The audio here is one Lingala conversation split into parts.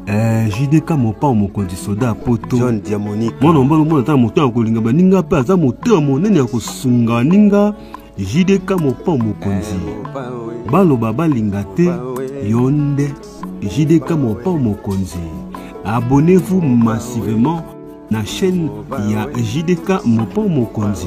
Eh, jdk mopao mokonzi soda ya poto john diamonique mwana mobali omona ata na moto ya kolinga baninga mpe aza moto ya monene ya kosunga baninga jdk mopao mokonzi eh, baloba balinga te yo nde jdk mopao mokonzi abonnez-vous massivement na chaîne ya jdk mopao mokonzi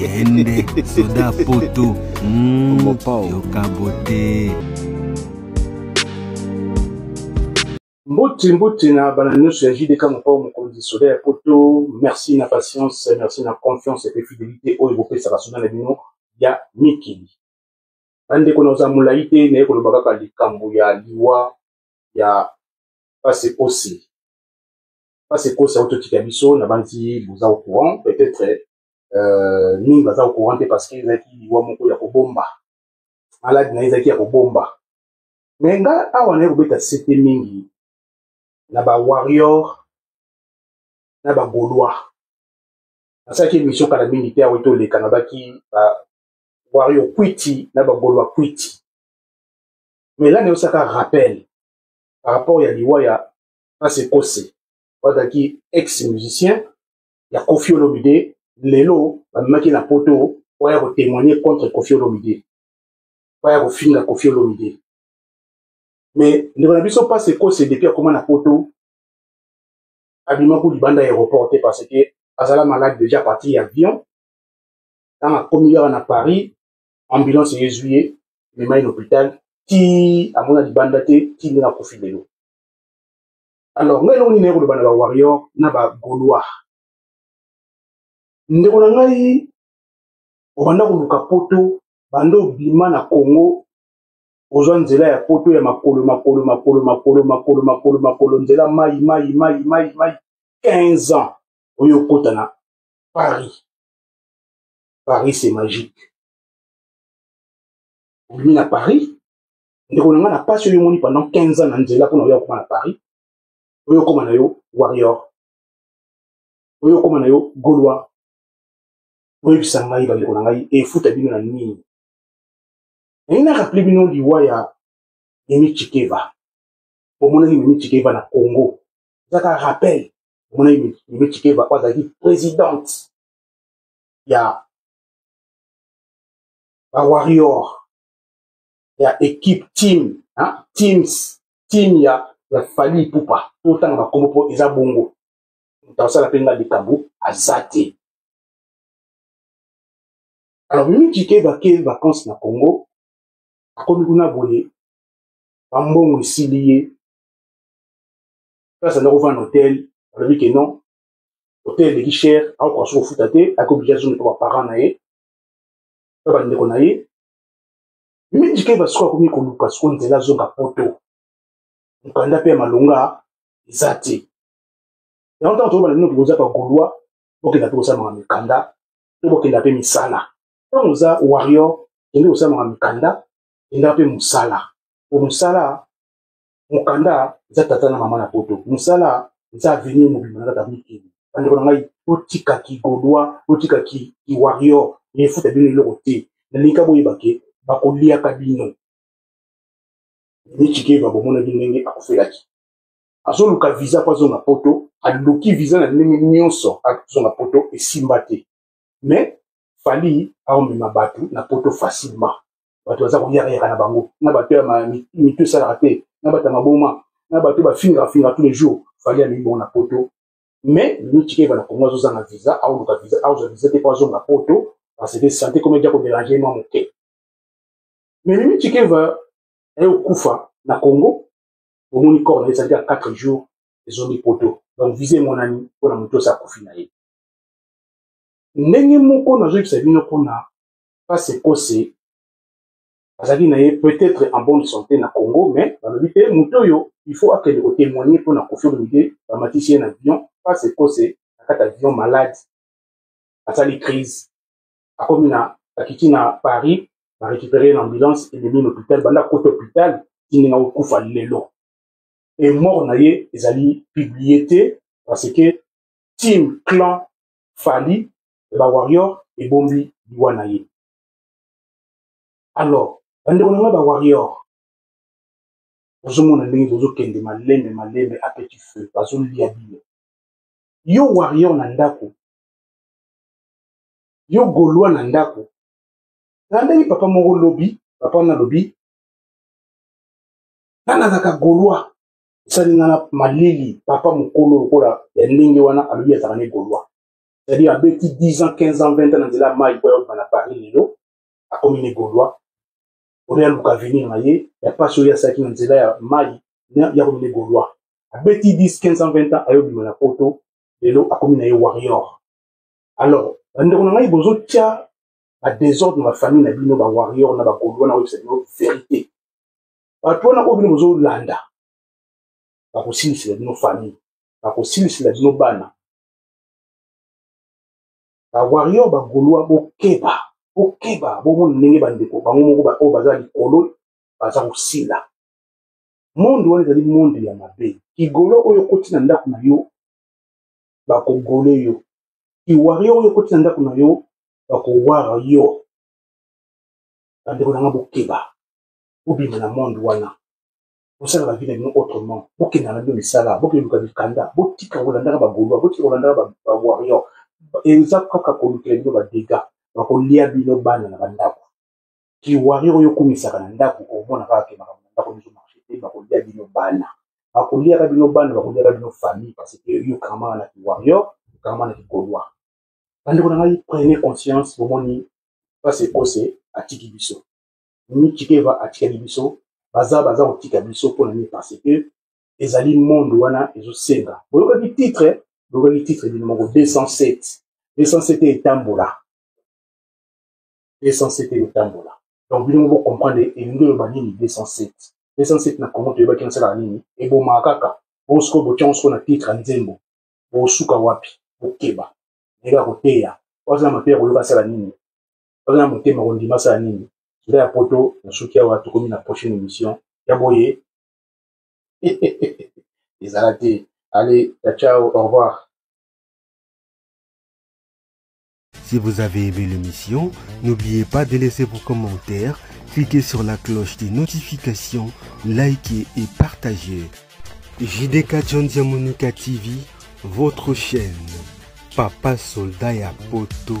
yende soda poto mm, yokabote mbote mbote na bana nyonso ya jdk mokao mokonzi soda ya poto merci na patience merci na confiance mpe fidelité oyo bopesaka soda na bino ya mikili bandeko na oza molai te naye koloba kaka likambo ya liwa ya pase osi parce que kosa auto tika biso na banzi boza au courant peut-être euh mingi baza au courant parce que ezaki liwa moko ya kobomba malade na ezaki ya kobomba mais nga awa na kobeta sete mingi na ba warrior na ba gaulois nasalaki émission kala mingi te awa toleka nabaki ba warrior kwiti na ba gaulois kwiti mais là nayosaka rappel par rapport ya liwa ya na sekose bazalaki ex musicien ya kofi olomide lelo bamemaki na poto oya kotemoigne contre kofi olomide oya kofinga kofi olomide mais ndeko na biso mpasi ekose depuis akoma na poto abimaki libanda ya aéroport te parce que azala malade déjà parti ya avion ntango akomi kaka na paris ambulance ezwi ye ememai na hôpital ti amona libanda te ti ndenge akufi lelo alors ngai eloko nini naye koloba na ba warrior na ba gaulois ndeko na ngai obanda koluka poto banda obima na congo ozwa nzela ya poto ya makolo makolo makolo makolo makolo makolo makolo nzela mai mai mai mai mai 15 ans oyo okota na paris paris c'est magique obimi na paris ndeko na ngai na pasi oyo omoni pendant 15 ans na nzela mpona oya okoma na paris oyo okoma na yo warrior oyo okoma na yo golois oyebisa ngai bandeko na ngai efuta bino na nini naye na rappele bino liwa ya mimi chikeva omonaki mimi chikeva na congo ezaka rappel omonaki mimi chikeva oyo azalaki présidente ya bawarrior ya equipe team hein? teams team ya ya fali ipupa totanga bakombo mpo eza bongo moto asala mpe nga likambo aza te alors mimi kike bake vacances na congo akomi kuna boye bambongo esili ye place andako vana hotel alobi ke non hotel eleki cher akokoka soki kofuta te akoki oblige azongi mpo baparent na ye to bandeko na ye mingi keba sikoyo akomi koluka sikoyo nzela azonga poto mokanda mpe ya malonga eza te yango ntango toyebana bino tokoza ka golwa bokenda mpe kosalamaka mikanda to bokenda mpe misala ntango oza warrior kende kosalamaka mikanda kenda mpe mosala po mosala mokanda eza tata na mama na poto mosala eza avenir mobimba na kata mikili bandeko na ngai otika kigodois otika kiwarrior efuta bino eloko te nalingi ka boyeba ke bakoliaka bino michikeva bomonaki ndenge akufelaki azoluka visa mpo azonga poto aluki visa na ndenge nyonso azonga poto esimba te mais fali aomema bato na poto facilement bato baza koyakayaka na bango na bato ya mitu esalaka te na bato ya maboma na bato bafingafinga tous les jours fali alingi bongo na poto mais michike bana kongo azozanga visa aoluka visa aozwa visa te mpo azonga poto parce que sante komi eja koderange mwa moke mais mimi chikeva aye okufa na congo omoni corps na ye ezalaki ya 4 jours ezongi poto donc visa emonani mpo na moto osi akufi na ye ndenge moko nazoyebisa bino mpona face ekose azalaki na ye peut-être en bonne santé na congo mais balobi te moto oyo il faut akende kotémoigne mpo na kofi olomide bamatisi ye na avion face ekose na kati avion malade asali crise akomi na akiti na paris barécupéré ye na ambulance ememi na hôpital banda kota hôpital tindinga kokufa lelo e mort na ye ezali publié te parce que team clan fali ya ba warrior ebombi liwa na ye alors bandeko na ngai ba warrior ozomona ndenge bozokende malembe malembe a petit feu bazolia bino yo warrior na ndako yo golois na ndako nalandaki papa moko lobi papa wana alobi nga nazalaka golois esali nga na malili papa mokolo lokola ya ndenge wana alobi azalaka ne golois c'est-à-dire abeti 10 ans 15 ans 20 ans na nzela ya mai mpo ayokana na paris lelo akomi ne gaulois oyo yaluka avenir na ye ya mpasi oyo asalaki na nzela ya mai yakomi ne gaulois abeti 10 15 ans 20 ans ayobima na poto lelo akomi na ye warrior alors bandeko na ngai bozotya badésordre na bafamille na bino bawarrior na bagaulois na oyebisa bino verité bato wana oyo bino bozolanda bakosilisela bino famille bakosilisela bino bana ba warrior ba golois bokeba bokeba bomoni ndenge bandeko bango moko baoyo baza likolo baza kosila monde wana ezali monde ya mabe kigolo oyo okoti na ndako na yo bakogole yo kiwario oyo okoti na ndako na yo bakowara yo bandeko na nga bokeba bobima na monde wana bosala bavi na bino autrement bokenda na bino misala bokende luka mikanda botika kolandaka bagolois botika kolandaka bawarrior eza kaka kolukela bino badega bakolia bino bana na bandako kiwarrior oyo okumisaka na ndako omona kaka ke makambo na ndako biso marché te bakolia bino bana bakoliaka bino bana bakoliaka bino famille parce que yo okangamaka na kiwarrior okangamaka na kigolois bandeko na ngai prenez conscience bomoni mpasi ekose atiki biso Chikeva atikali biso baza baza kotika biso mpo na nini parce que ezali monde wana ezosenga boyokaki titre boyokaki titre bino moko 207 207 etambola 207 etambola donc bino moko bocomprendre elingi oloba nini 207 207 na congo toyebaki nasalaka nini ebomaka kaka bongo sikoyo botyango sikoyo na titre ya nzembo bosuka wapi bokeba ndenge ya koteya waza na mateya koyoka asala nini baza na motema kondima sala nini ngai ya poto nasuki awa tokomi na prochaine émission ya boye ezala te allez ciao au revoir Si vous avez aimé l'émission, n'oubliez pas de laisser vos commentaires, cliquez sur la cloche des notifications, likez et partagez. JDK John Monica TV, votre chaîne. Papa soldat ya poto.